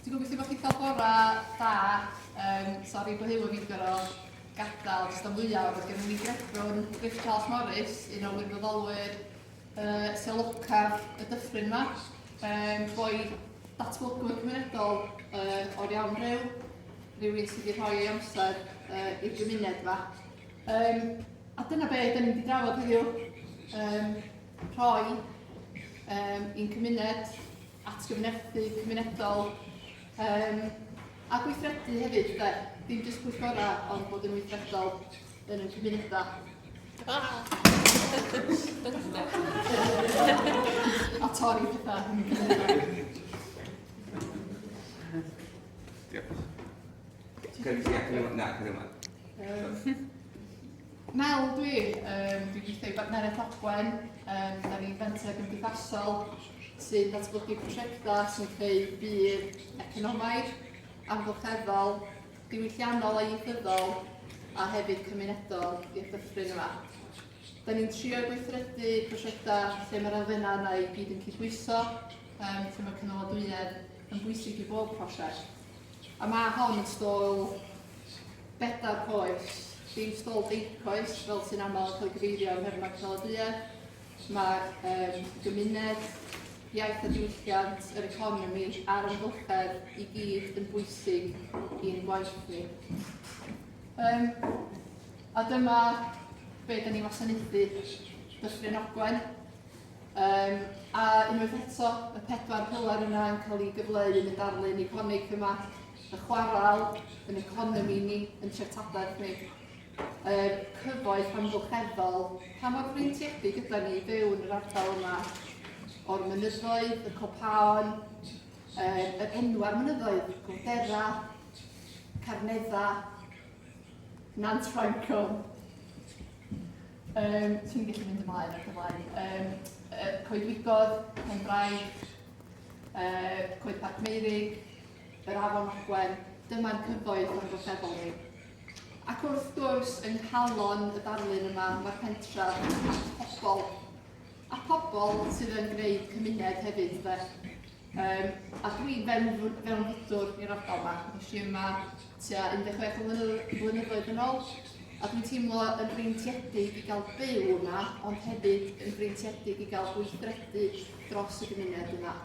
Dwi'n gobeithio bod chi 'di cael bore da. Yym, sori bod Huw a fi'n gorfod gadael jyst am fwyaf, ond oedd gennym ni grefrwn Griff Charles Morris, un o wirfoddolwyr uh, Seloca y dyffryn yma. Um, boi datblygwr cymunedol uh, o'r iawn rhyw, rhywun sydd wedi rhoi ei amser uh, i'r gymuned yma. Um, a dyna be da ni wedi drafod heddiw, um, rhoi um, i'n cymuned, atgyfnesu cymunedol, um, a gweithredu hefyd, da, dim jyst pwyllgora, ond bod yn weithredol yn y cymunedau. Ah. a torri pethau. Diolch. Mel dwi, yym dwi'n gweithio i Bartneriaeth Ogwen, yym dan ni'n fenter gymdeithasol sy'n datblygu prosiectau sy'n creu budd economaidd, amgylcheddol, diwylliannol a ieithyddol a hefyd cymunedol i'r dyffryn yma. Da ni'n trio gweithredu prosiectau lle mae'r elfennau yna i gyd yn cydbwyso, um, lle mae cynaladwyedd yn bwysig i bob prosiect. A mae hon yn stôl bedair coes, dim stôl deicoes fel sy'n aml yn cael ei gyfeirio yn Herman Caladwyedd. Mae'r um, gymuned, iaith a diwylliant, yr economi a'r amgylchedd i gyd yn bwysig i'n gwaith ni. Um, a dyma be da ni'n wasanaethu Dyffryn Ogwen. Um, a unwaith eto, y pedwar pilar yna yn cael ei gyfleu yn y darlun iconig yma, y chwarael, yn economi ni, yn treftadaeth ni, y cyfoeth amgylcheddol, pa mor freintiedig gyda ni i byw yn yr ardal yma, o'r mynyddoedd, y copaon, yr enwau'r mynyddoedd, Gwdera, Carnedda, Nant Ffrancon, Um, ti'n gallu mynd ymlaen ac ymlaen. Um, uh, Coedwigodd, Penbraig, uh, Coed Parc Meirig, yr Afon Ogwen, dyma'r cyfoedd o'n goffebol ni. Ac wrth gwrs, yng nghalon y darlun yma, mae'r pentra a pobl, a pobl sydd yn gwneud cymuned hefyd, fe. Yym, a dwi fewn, fewn fudwr i'r ardal yma. Nes i yma tua 16 o flynyddoedd yn ôl, a dwi'n teimlo yn breintiedig i gael byw yma, ond hefyd yn breintiedig i gael gweithredu dros y gymuned yma.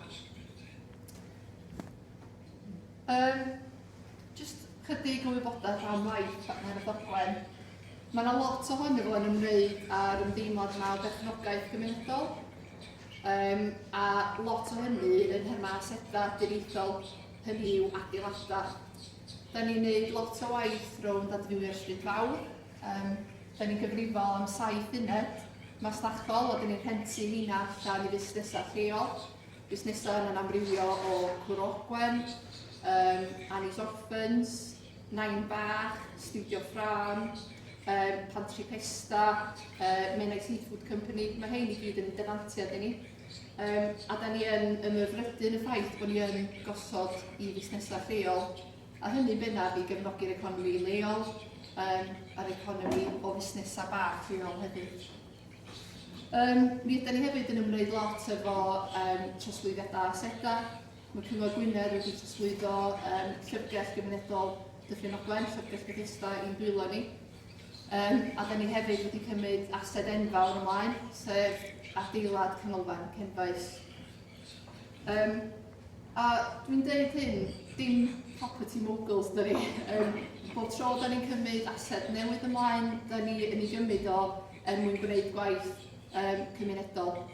Um, just chydig o wybodaeth am waith partner y ddoglen. Mae yna lot ohono fo yn ymwneud â'r ymdeimlad yma o berchnogaeth gymunedol, Yym, a lot o hynny yn thema aseda dirieithol, hynny yw adeilada. Da ni'n neud lot o waith rownd adfywio'r Stryd Fawr, yym, da ni'n gyfrifol am saith uned masnachol a da ni'n rhentu heina allan i fusnesau lleol, busnesau yna'n amrywio o Cwrw Ogwen, um, Annie's Orphans, Nain Bach, Studio Ffrâm, um, Pantri Pesta, uh, Menai Seafood Company, mae hyn i gyd yn defantiad i ni. Um, a da ni yn ymyfrydu yn y ffaith bod ni yn gosod i fusnesau lleol, a hynny bennaf i gefnogi'r economi leol um, a'r economi o fusnesau bach lleol hefyd. Um, mi ydy ni hefyd yn ymwneud lot efo um, trosglwyddiadau asedau, Mae Cyngor Gwynedd wedi trosglwyddo um, llyfrgell gymunedol Dyffryn Ogwen, llyfrgell Bethesda i'n dwylo ni. Um, a da ni hefyd wedi cymryd ased enfawr ymlaen, sef adeilad canolfan Cenfaes. Um, a dwi'n dweud hyn, dim property moguls dyn ni. Um, bob tro da ni'n cymryd ased newydd ymlaen, da ni yn ei gymryd o er mwyn gwneud gwaith um, cymunedol.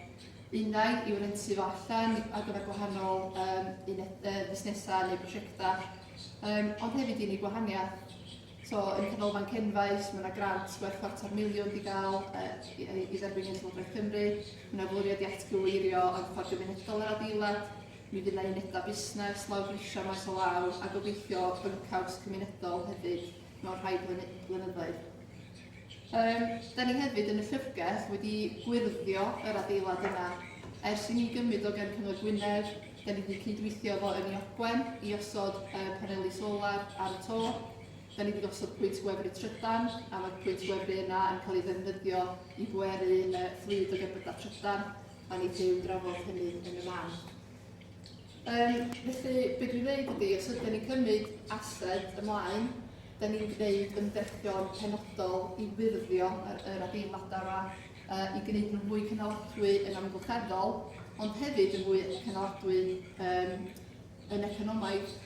Uned i'w rentu fo allan ar gyfer gwahanol um, uned, uh, busnesau neu prosiectau, um, ond hefyd i ni gwahaniaeth. So, yn y canolfan cenfais, mae yna grant gwerth chwarter miliwn i gael uh, i, i dderbyn yn Llywodraeth Cymru. Mae yna fwriad i atgyweirio yn ffordd gymunedol yr adeilad. Mi fydd yna unedau busnes, law grisio maes o law, a gobeithio byncawd cymunedol hefyd mewn rhai blynyddoedd. Yym, da ni hefyd yn y llyfrgell wedi gwyrddio yr adeilad yma. Ers i ni gymryd o gan Cyngor Gwynedd, da ni wedi cydweithio efo Ynni Ogwen i osod uh, paneli solar ar y to. Da ni wedi gosod pwynt gwefru trydan, a mae'r pwynt gwefru yna yn cael ei ddefnyddio i bweru uh, fflyd o gerbydau trydan. Da ni wedi i'w drafod hynny yn y man. Um, felly, beth dwi'n dweud ydy, os ydym ni'n cymryd ased ymlaen, da ni'n gwneud ymdrechion penodol i wirddio yr, yr adeiladau yma, uh, i gwneud nhw'n fwy cynaladwy yn amgylcheddol, ond hefyd yn fwy cynaladwy um, yn economaidd.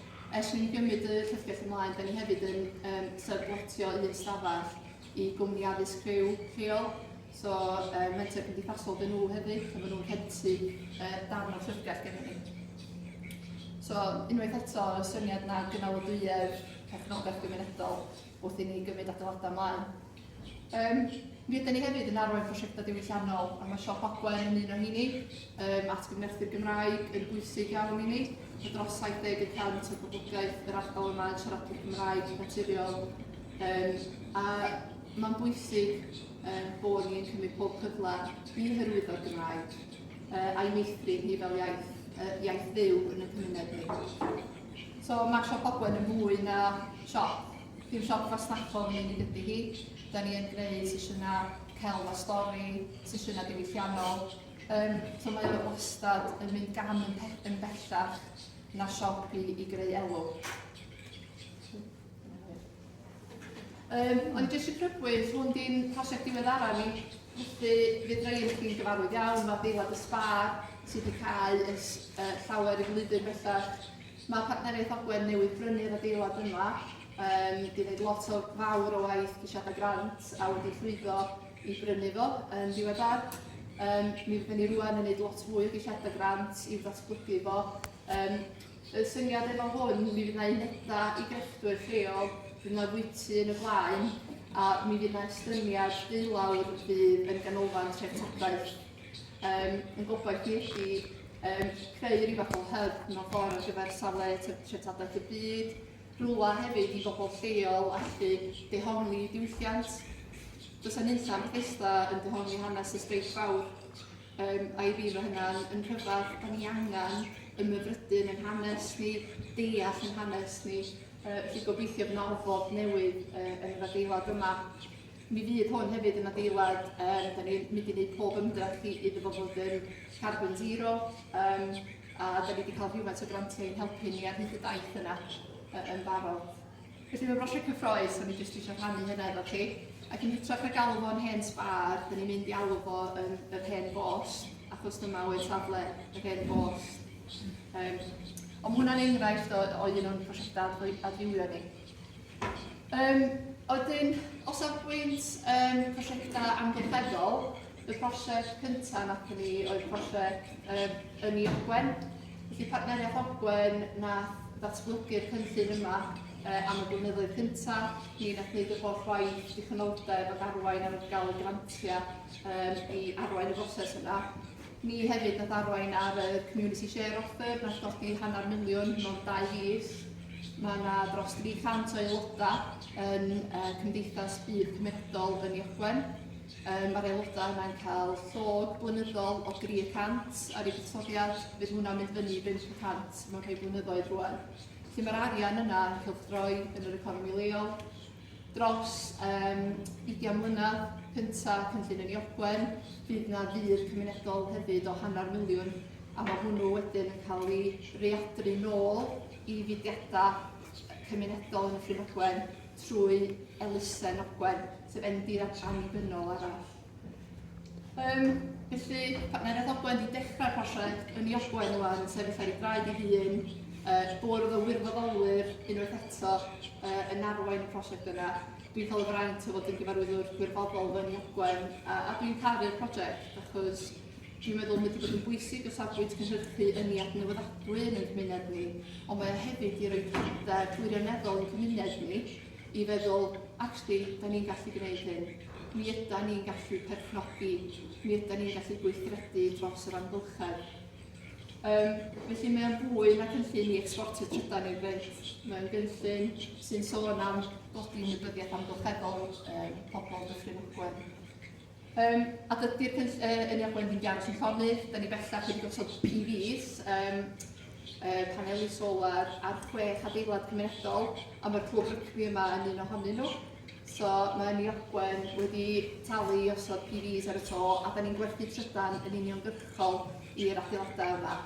Ers ni'n gymryd y llyfrgell ymlaen, da ni hefyd yn um, sefydlotio un stafell i gwmni addysg rhyw lleol, so uh, mentor cymdeithasol dyn nhw hefyd, a maen nhw'n rhentu uh, darn o llyfrgell gen ni. So, unwaith eto, y syniad na gynalodwyedd perchnogaeth gymunedol wrth i ni gymryd adeiladau ymlaen. Um, mi ydyn ni hefyd yn arwain prosiectau diwylliannol, a mae Siop Ogwen yn un o hini, um, at gyfnerthu'r Gymraeg yn bwysig iawn i ni, a dros 70 y cant o'r boblogaeth yr ardal yma yn siaradwyr Cymraeg naturiol Yym, a mae'n bwysig um, bod ni'n cymryd pob cyfle i hyrwyddo'r Gymraeg uh, a'i meithrin hi fel iaith, uh, iaith fyw yn y cymuned ni. So mae Siop Ogwen yn mwy na siop. Dim siop fasnachol yn unig ydy hi. Da ni yn gwneud sesiynau celf a stori, sesiynau diwylliannol. Um, so mae o wastad yn mynd gan yn, yn bellach na siop i, i greu elw. Um, ond jyst i crybwyll, hwn di'n prosiect diweddara ni, felly fydd rhaid i chi'n gyfarwydd iawn, mae deilad y sbar sydd wedi cael y, uh, llawer i flwyddyn bellach. Mae partneriaeth Ogwen newydd brynu'r adeilad yma, um, di wneud lot o fawr o waith ceisiadau grant a wedi llwyddo i brynu fo yn diweddar. Um, mi fydden ni rwan yn gwneud lot fwy o geisiadau grant i'w ddatblygu fo. Um, Y syniad efo hwn, mi fydd 'na uneda i grefftwyr lleol, fydd 'na fwyty yn y blaen, a mi fydd 'na estyniad deulawr fydd yn ganolfan treftadaeth. Um, yn gobaith ni ydi um, creu rhyw fath o hyb mewn ffordd ar gyfer safle treftadaeth y byd, rhywle hefyd i bobl lleol allu dehongli diwylliant. Does yna nunlla Bethesda yn dehongli hanes y streic fawr, Yym, a i fi mae hynna'n yn rhyfedd, da ni angen ymhyfrydu yn ein hanes ni, deall yn hanes ni, uh, felly gobeithio bod yna ofod newydd uh, yn yr adeilad yma. Mi fydd hwn hefyd yn adeilad, um, da ni'n mynd i wneud pob ymdrech i iddo fo fod yn carbon zero, um, a da ni wedi cael rhywfaint o grantiau yn helpu ni ar hyd y daith yna uh, yn barod. Felly mae brosiect cyffroes, o'n i jyst eisiau rhannu hynna efo chi. Ac yn hytrach na galw fo'n hen sbar, dyn ni'n mynd i alw fo yn yr hen bos, achos dyma oedd safle yr hen bos. Um, ond hwnna'n enghraifft o, o un o'n prosiectau adfywio ni. Um, Oedyn, o safbwynt um, prosiectau amgylcheddol, Y prosiect cyntaf wnaethon ni oedd prosiect um, Ynni Ogwen. Felly partneriaeth Ogwen na ddatblygu'r cynllun yma uh, am y blynyddoedd cyntaf. Ni wnaeth wneud y holl waith dichonoldeb ac arwain ar gael y grantiau um, i arwain y broses yna. Ni hefyd nath arwain ar y Community Share Offer, nath godi hanner miliwn mewn dau fis. Mae yna dros 300 o aelodau yn uh, Cymdeithas Byd Cymedol yn Iogwen. Mae'r aelodau yna yn cael llog blynyddol o dri y cant ar eu buddsoddiad, fydd hwnna'n mynd fyny i bump y cant mewn rhai blynyddoedd rwan. Felly mae'r arian yna yn cylchdroi yn yr economi leol. Dros um, 20 mlynedd cynta cynllun yn Iogwen, bydd yna ddur cymunedol hefyd o hanner miliwn a mae hwnnw wedyn yn cael ei readru nôl i fudiadau cymunedol yn y Llwynogwen trwy elusen Ogwen. sef enw di-ddatr annibynnol arall. Um, felly, partner Ed Ogwen wedi dechrau'r prosiect yn ei ogwen rwan, yn sefyll ar ei draed ei hun, uh, bwrdd o wirfoddolwyr unwaith eto uh, yn arwain y prosiect yna. Dwi'n cael y fraint o fod yn gyfarwyddwr gwirfoddol fy ogwen, a, a dwi'n caru'r prosiect, achos dwi'n meddwl mae wedi bod yn bwysig o safbwynt cynhyrchu yn ei adnewyddadwy yn ein cymuned ni, ond mae hefyd i roi pryder gwirioneddol i'n cymuned ni, i feddwl, actually, da ni'n gallu gwneud hyn, mi yda ni'n gallu perchnogi, mi yda ni'n gallu gweithredu dros yr amgylchedd. Um, felly mae'n fwy na cynllun i exportio trydan i'r fynt. Mae'n gynllun sy'n sôn am godi ymwybyddiaeth amgylcheddol um, pobl Dyffryn Ogwen. Um, a dydy'r cynll, uh, yn eich blendyn gardd sy'n llonydd, da ni bellach wedi gosod PVs, um, uh, paneli solar ar chwech adeilad cymunedol, a mae'r clwb rygbi yma yn un ohonyn nhw. So mae Ynni Ogwen wedi talu i osod PVs ar y to, a da ni'n gwerthu trydan yn uniongyrchol i'r adeiladau yma.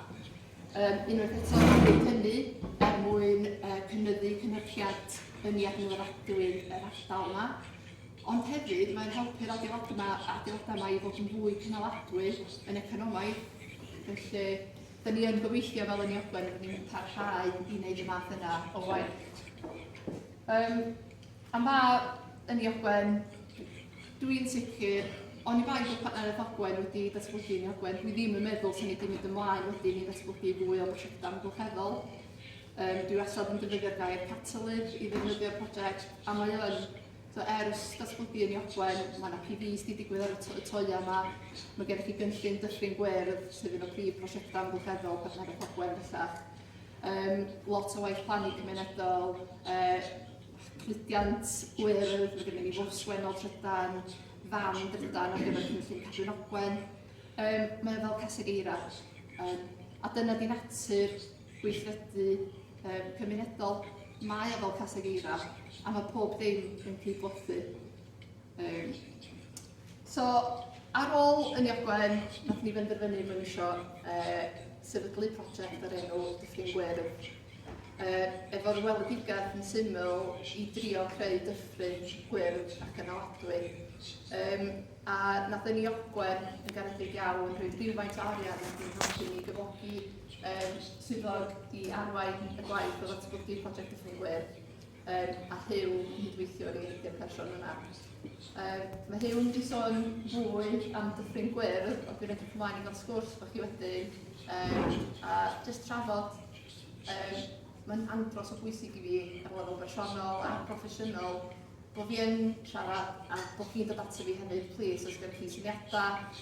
Um, unwaith eto, gwneud hynny er mwyn uh, cynyddu cynhyrchiad ynni adnewyddadwy yr ardal yma. Ond hefyd, mae'n helpu'r adeiladau 'ma, adeiladau 'ma i fod yn fwy cynaladwy yn economaidd. Felly, da ni yn gobeithio fel yn Iogwen, rydyn ni'n parhau i wneud y math yna o waith. Um, a ma yn Iogwen, dwi'n sicr, ond i bai bod partneriaeth Ogwen wedi datblygu yn Iogwen, dwi ddim yn meddwl sy'n ni wedi mynd ymlaen wedyn i ddatblygu fwy o brosiectau amgylcheddol. Um, dwi wastad yn defnyddio'r gair catalydd i ddefnyddio'r prosiect, a mae o'n So, ers datblygu yn Iogwen, mae yna PVs wedi digwydd ar y, to y toia yma. Mae gennych chi gynllun dyffryn gwyrdd, sef un o prif prosiectau amgylcheddol partner y Pogwen bellach. Um, lot o waith plannu cymunedol, uh, cludiant gwyrdd, mae gennym ni fws wennol trydan, fan drydan ar gyfer cynllun Cadwyn Ogwen. Um, mae fel caseg eira. Um, a dyna di natur gweithredu um, cymunedol. Mae o fel caseg eira, a mae pob dim yn cyd-blothu. Um, so, ar ôl yn Iogwen, nath ni benderfynu mewn eisiau uh, sefydlu prosiect ar enw Dyffryn Gwyrdd. Uh, efo'r weledigaeth yn syml i drio creu dyffryn gwyrdd ac yn aladwy. Um, a nath ni Iogwen yn garedig iawn rhoi rhywfaint o arian ac yn helpu ni gyfogi yr Swyddog i arwain y gwaith o ddatblygu Project Dyffryn Gwyr um, a Huw yn hydweithiwr i'r i'r person yna. Um, mae Huw yn wedi sôn fwy am Dyffryn Gwyr, ond dwi'n edrych ymlaen i gael sgwrs bod chi wedi, um, a jyst trafod um, mae'n andros o bwysig i fi ar lefel bersonol a proffesiynol bod fi yn siarad a bod fi'n dod ato fi hefyd, plis, os gyda chi syniadau,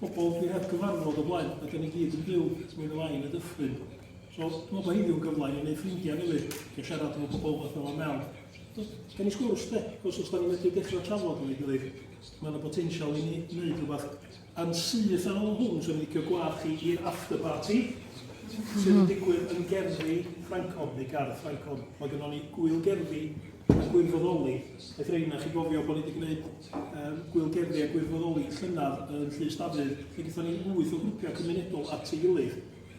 pobol dwi heb gyfarfod o blaen, a 'dan ni gyd yn byw, at mi fela i yn y dyffryn. So, dwi'n meddwl bod heddiw'n gyfle i ni wneud ffrindiau newydd, a siarad efo pobol fath fel Mel. Gen i sgwrs de, os os 'dan ni'n medru dechrau trafod efo'i gilydd, mae yna botensial i ni wneud rhywbeth. Yn syth ar ôl hwn, swn i'n licio gweld chi i'r after party, sydd yn digwydd yn gerddi Ffrancon, neu gardd Ffrancon. Mae gynnon ni gŵyl gerddi a gwirfoddoli. Beth rei na chi gofio bod ni wedi gwneud um, gwylgerddi a gwirfoddoli llynaf yn Llys Dafydd, lle gyda ni wyth o grwpiau cymunedol at ei gilydd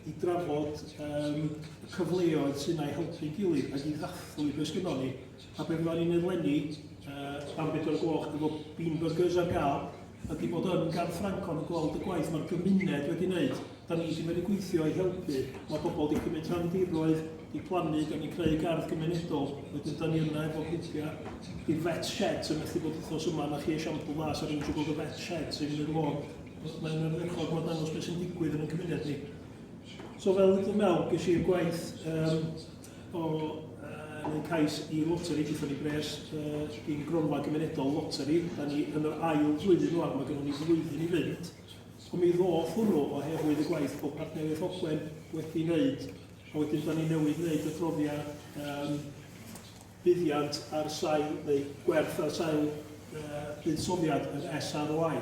i drafod um, y cyfleoedd sy'n ei helpu gilydd ac i ddathlu beth gyda ni. A beth fyddwn ni'n eleni, uh, am bedwar gloch, gyda bean burgers ar gael, ydi bod yn gan Ffrancon yn gweld y gwaith mae'r gymuned wedi wneud. Da ni wedi wedi gweithio i helpu. Mae pobl wedi cymryd rhan diroedd, wedi plannu, da ni'n creu gardd gymunedol. Wedyn da ni yna efo grwpiau i'r vet sheds yn methu bod wythnos yma. Na chi esiampl dda, sa'n rhywun eisiau gweld y vet sheds yn yr lôn. Mae'n ymwneud bod dangos beth sy'n digwydd yn y cymuned ni. So fel dwi'n meddwl, ges i'r gwaith um, o uh, neu cais i loteri, gyda ni bres uh, i'n gronfa gymunedol loteri. Da ni yn yr ail flwyddyn rwan, mae gennym ni flwyddyn i fynd. Ond mi ddoth hwnnw oherwydd y gwaith bod partneriaeth Ogwen wedi wneud, a wedyn da ni newydd wneud y profiad um, buddiant ar sail, neu gwerth ar sail uh, buddsoddiad yr SROI.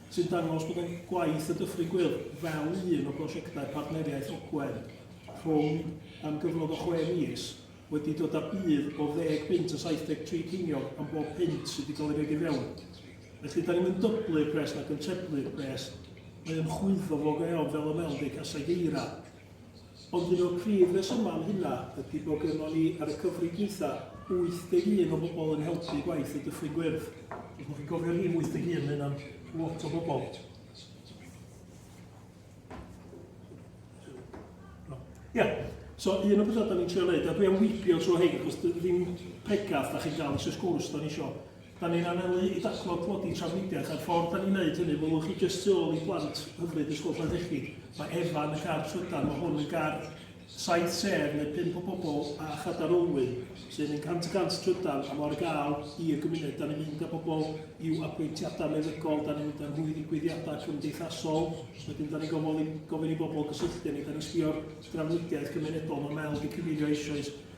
sy'n dangos bod ein gwaith y Dyffryn Gwyl fel un o brosiectau partneriaeth Ogwen rhwng am gyfnod o chwe mis wedi dod â budd o ddeg punt a 73 ceiniog am bob punt sydd wedi cael ei roid i fewn. Felly, da ni'm yn dyblu'r pres nac yn treblu'r pres, mae o'n chwyddo fo go iawn fel y meldi caseg eira. Ond un o'r prif resymau am hynna ydy bod gynnon ni, ar y cyfrif dwytha, 81 o bobl yn helpu gwaith y Dyffryn Gwyrdd. Os ydych chi'n cofio rhif 81, mae hynna'n lot o bobl. Ia, yeah. so un o bethau da ni'n trio wneud, a dwi am wybio trwy hyn, achos ddim pregaf da chi'n gael eisiau sgwrs da ni eisiau Da ni'n anelu i dathlo tlodi trafnidiaeth a'r ffordd da ni'n neud hynny, welwch chi jyst tu ôl i blant hyfryd Ysgol Llanelli, mae Efa yn y car trydan, mae hwn yn gar saith sedd neu pump o bobl a chadair olwyn sy'n mynd cant y cant trydan a mae ar gael i'r gymuned. Da ni'n mynd â bobl i'w apwyntiadau meddygol, da ni'n mynd â nhw i ddigwyddiadau cymdeithasol, wedyn da ni'n gofyn i, gofyn i bobl gysylltu â ni, da ni'n sbio'r drafnidiaeth gymunedol, mae Mel wedi cyfeirio eisoes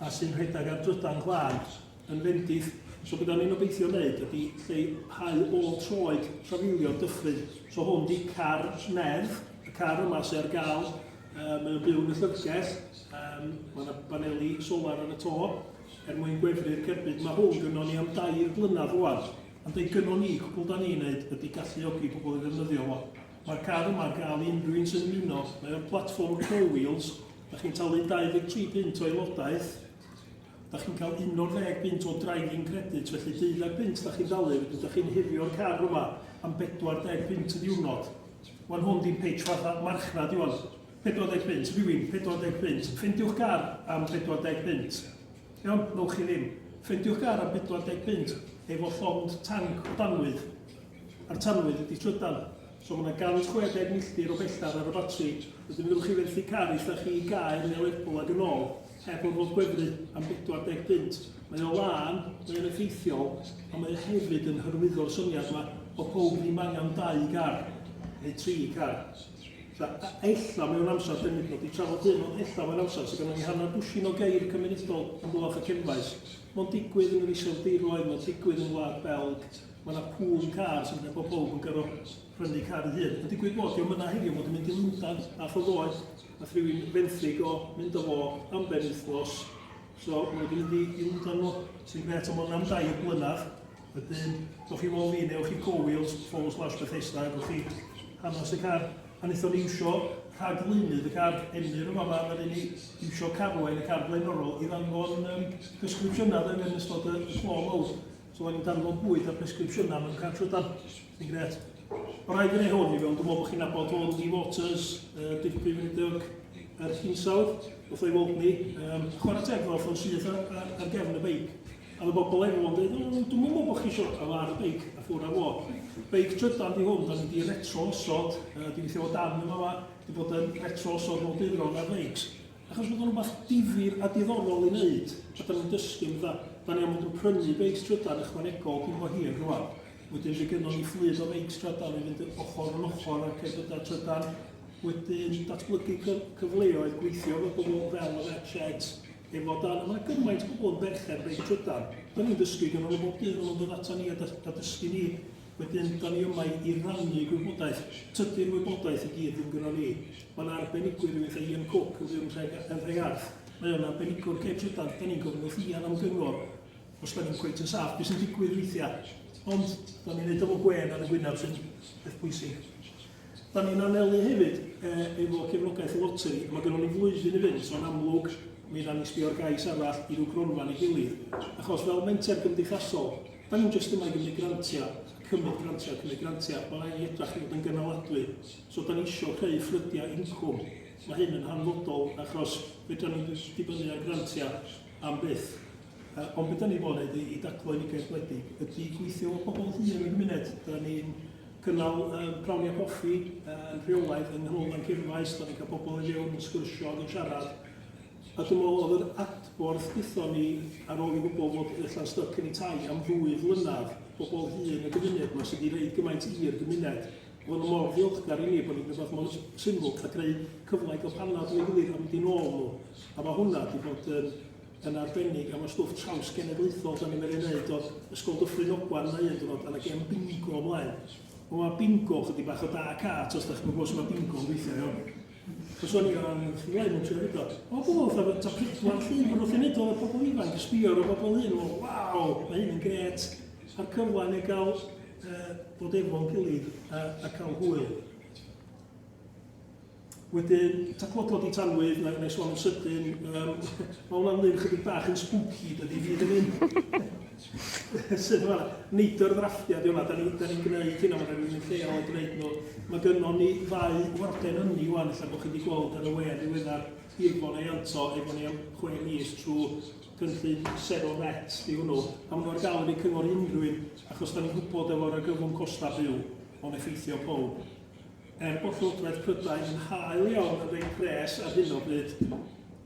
a sy'n rhedeg ar drydan glas yn fendith, so be da ni'n obeithio wneud ydy lleihau ôl troed trafeilio dyffryn, so hwn di car nerth, y car yma sy'n ar gael, uh, mae o'n byw yn y llyfrgell, um, mae yna baneli solar ar y to, er mwyn gwefru'r cerbyd, mae hwn gynnwn ni am dair blynedd rwan, ond ei gynnwn ni, cwbl da ni'n neud ydy galluogi pobl i ddefnyddio fo. Mae'r car yma ar gael i unrhyw un sy'n ymuno, mae o'n platform four wheels, Da chi'n talu 23 punt o aelodaeth, da chi'n cael 11 punt o driving credit, felly deuddag punt da chi'n dalu, wedyn da chi'n hyrio'r car yma am 40 punt y diwrnod. Wan hwn di'n pitch fatha marchnad iwan. 40 punt, rhywun, 40 punt. Ffendiwch gar am 40 punt. Iawn, newch chi ddim. Ffendiwch gar am 40 punt efo llond tanc o danwydd. A'r tanwydd ydi trydan. So mae yna 160 milltir o bellter ar y batri. Wedyn fyddwch chi fenthyg car i lle chi i Gaer neu Lerpwl ac yn ôl, heb orfod gwefru am 40 punt. Mae o lân, mae o'n effeithiol, ond mae o hefyd yn hyrwyddo'r syniad yma bod pawb ddim angen dau gar, neu tri car. Ella, ella mewn amser, dyn ni wedi trafod hyn, ond ella mewn amser sydd gynnon ni hanner dwsin o geir cymunedol yn Bwlch y Cenfaes. Mae'n digwydd yn yr Iseldiroedd, mae'n digwydd yn Wlad Belg, Mae yna pŵl cars yn bod pawb yn gyro prynu car yn hyn. Mae'n digwydd bod diolch yna heddiw fod yn mynd i Lundan a Chyfoeth. Mae rhywun fenthyg o mynd o fo am ben wythnos. So mae wedi mynd i, i Lundan nhw sy'n gret am ond am dau o blynedd. Wedyn, dwch chi fol fi, newch chi Go Wheels, Fol slash Bethesda, dwch chi hanes y car. A wnaethon ni iwsio rhaglynydd y car emyr yma yma, a ni iwsio carwain y car blaenorol i ddanfon um, descriptiynau yn ystod y, y clo mawr. So o'n i'n darfod bwyd a presgripsiynau mewn car trydan. Yn gret. Mae'n rhaid yn ei hwn i fewn, dwi'n meddwl bod chi'n abod o Rudy Waters, uh, Diff Prif Weinidog, yr hinsawdd, wrth o'i weld ni. Um, chwarae teg fel ffordd syth ar, ar, ar gefn y beic. A mae bobl efo yn dweud, dwi'n meddwl bod chi eisiau cael ar y beic a ffwrdd ar fo. Beic trydan di hwn, da ni wedi retro osod, uh, dwi'n lle o dan yma, di bod yn retro osod mol dydron ar beics. Achos bod o'n rhywbeth difyr a diddorol i wneud, a da ni'n dysgu am da. Da ni am fod yn prynu beics trydan ychwanegol cyn bo hir rwan. Wedyn fe gynnon ni fflyd o feics trydan i fynd ochr yn ochr ar cerbydau trydan. Wedyn datblygu cyfleoedd gweithio efo pobl fel yr Etched, efo dan. Mae gymaint o bobl yn berchen beic trydan. Da ni'n dysgu gyda nhw bob dydd, maen nhw'n dod ata ni a dysgu ni. Wedyn, dan ni yma i rannu gwybodaeth. Tydi'r wybodaeth i gyd ddim gyda ni. Mae yna arbenigwyr, rhywun fatha Ian Cook yn byw yn Nhre, yn Nhregarth. Mae o'n arbenigwr lle trydan. Dan ni'n gofyn wrth Ian am gyngor os dan ni'n cweit yn saff beth sy'n digwydd weithiau. Ond dan ni'n neud efo gwên ar y gwynaf sy'n beth bwysig. Dan ni'n anelu hefyd e, efo cefnogaeth y loteri. Mae gennym ni flwyddyn i fynd, so'n amlwg mi ran ni sbio'r gais arall i ryw gronfa neu gilydd. Achos fel menter gymdeithasol, Da ni'm jyst yma i gymryd grantia, cymryd grantia, cymryd grantia, mae angen i ni edrach i fod yn gynaladwy. So da ni eisiau creu ffrydiau incwm. Mae hyn yn hanfodol achos fedra ni ddim dibynnu ar grantia am byth. Uh, ond beth da ni fod wneud i, i daclo unigaeth wledig ydy gweithio efo pobl hŷn yn y gymuned. Da ni'n cynnal um, prawniau coffi uh, yn rheolaidd yng Nghanolfan Cyrfaes, da ni'n cael pobl i fewn yn sgwrsio ac yn siarad A dwi'n meddwl oedd yr adborth gaethon ni ar ôl i wybod fod y llan styc yn tai am ddwy flynadd, bobl hŷn y gymuned 'ma sydd wedi rhoi gymaint i'r gymuned, bod nhw mor ddiolchgar i ni bod ni'n gwneud rhywbeth mor syml a greu cyfle i gael panad ato ei gilydd a mynd i'n ôl nhw. A mae hwnna wedi bod yn, yn arbennig a mae stwff trawsgenedlaethol da ni'n mynd i'n wneud o'r Ysgol Dyffryn Ogwan yna un diwrnod a na gem bingo ymlaen. Mae bingo chydig bach o da cart os da chi'n gwybod sut mae bingo'n gweithio iawn. Cyswni gan angen llwyau mewn tri awdurdod. O gwbl, fatha bod topic mor llun, bod wrth i wneud o efo pobl ifanc, y sbio ar y bobl hyn, o, waw, mae hyn yn gret, a'r cyfle yn ei gael uh, bod efo'n gilydd a, a cael hwyl. Wedyn, taclo codi tanwydd, na, na i sôn yn sydyn, um, mae hwnna'n lun chydig bach yn spooky, dydy fi ddim yn. Sut mae'r neidr ddrafftiau, di hwnna, da ni'n ni, ni gwneud hynna, mae'n rhywun yn lleol yn gwneud nhw. Mae gynnon ni ddau warden ynni wan, lle bod chi wedi gweld ar y we ddiweddar, Irfon ei anto, efo ni am chwe mis trwy gynllun Sero Net, di hwnnw. A maen nhw'n gael yn ei cyngor unrhyw un, achos da ni'n gwybod efo'r argyfwng costau byw, o'n effeithio pob. Er bod Llywodraeth Prydain yn hael iawn yn rhoi pres ar hyn o bryd,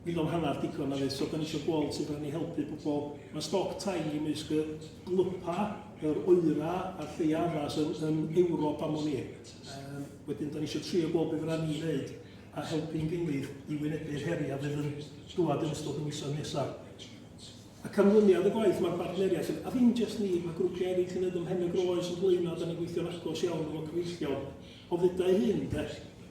mil am hanner digon na fydd. So da ni eisiau gweld sut da ni helpu pobl. Mae stoc tai i mysg y gwlypa, yr oera a'r lleia yma sy'n yn Ewrop am o'n i. Um, wedyn da ni eisiau trio gweld beth fydda ni'n gwneud a helpu'n gilydd i wynebu'r heriau fydd yn dwad yn ystod y misoedd nesaf. A canlyniad y gwaith mae'r bartneriaeth yn, a ddim jyst ni, mae grwpiau eraill yn edrych ymhen y groes yn blaenau, da ni'n gweithio'n agos iawn efo cyfeillion O ddeuai hi, ynde.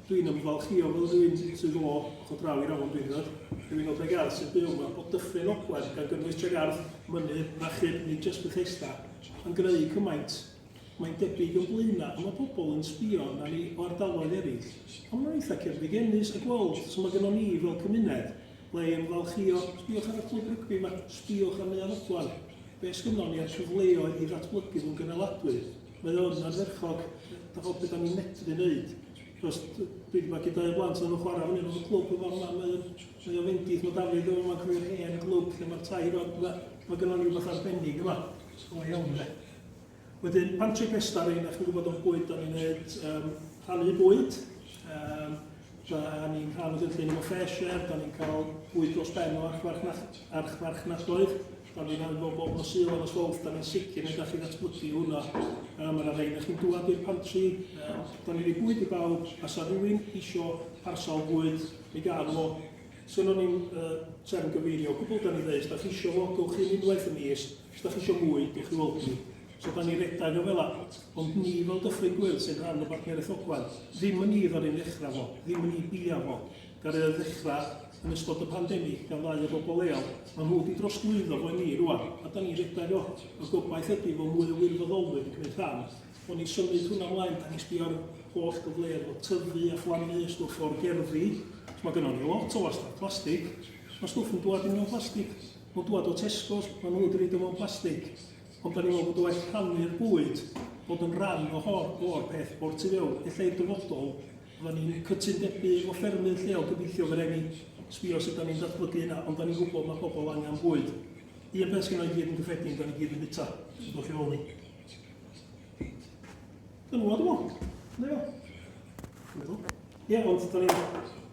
Dw i'n ymfalchïo fel rhywun sydd o ochr draw i'r afon Rhynedd, yw un o Dregarth sy'n byw yma o Dyffryn Ogwen, gan gynnwys Tregarth, Mynydd, Rachub, nid jyst Bethesda, yn greu cymaint. Mae'n debyg yn Blaenau y mae pobl yn sbio arna ni o ardaloedd eraill, ond mae'n eitha cerfigennus a gweld sut mae gynnon ni fel cymuned le i ymfalchïo, sbïwch ar y clwb rygbi yma, sbïwch ar Neuadd Ogwen, be sgynnon ni a'r cyfleoedd i ddatblygu nhw'n gynaladwy. Mae o'n ardderchog, da bod beth o'n i'n medru wneud. Cos dwi wedi bod gyda y blant o'n chwarae fyny o'r clwb yn fawr mae o'n mae o'n fendith, mae Dafydd yn fawr cofio'r hen glwb lle mae'r tai yma, mae, mae gynnon ni rhywbeth arbennig yma. O iawn de. Wedyn, Patrick Nestar ein, a chi'n gwybod o'n bwyd o'n i'n gwneud, um, rhannu bwyd, um, Da ni'n cael y gynllun efo Fresh Air, da ni'n cael bwyd dros ben o archfarchnadoedd, da ni'n cael efo bob nos Sul a Swolf, da ni'n sicr yn gallu ddatblygu hwnna. Um, mae yna rhain chi'n dŵad i'r pantri, um, da ni'n ei bwyd i bawb, a sa rhywun isio parsal bwyd, mi gael fo. Sgynnon ni'n uh, trefn gyfeirio, gwbl da ni'n dweud, da chi isio fo, gywch chi'n unwaith y mis, Os da chi eisiau mwy, diolch i weld ni. So da ni redag o fel la, ond ni fel Dyffryn Gwyl sy'n rhan o Barciau Rethogwaith, ddim yn ni ddod i'n ddechrau fo, ddim yn ni bia fo. Gael ei ddechrau yn ystod y pandemig gan ddau o bobl leol, mae nhw wedi drosglwyddo fo i ni rwan, a da ni redag o. Y gobaith ydy fo mwy o wirfoddolwyr yn gwneud rhan, o'n i symud hwnna mlaen, da ni sbio ar holl gyfleoedd o tyfu a phlannu a stwff o'r gerddi, mae gynnon ni lot o wastad plastig, mae stwff yn dwad i mewn plastig. Nhw'n dŵad o Tesco's, maen nhw wedi reid o mewn plastig, ond da ni'n meddwl bod o well rhannu'r bwyd, bod yn rhan o hor, o'r peth o'r tu fewn. Ella i'r dyfodol, fydda ni'n cytundebau o ffermydd lleol gobeithio fe reni sbio sut da ni'n datblygu yna, ond da ni'n gwybod mae pobl angen bwyd. Un peth sy'n o'i gyd yn gyffredin, da ni gyd yn bita, sy'n dod i ôl ni. Dyna fo, dwi'n meddwl. Ie, ond da ni'n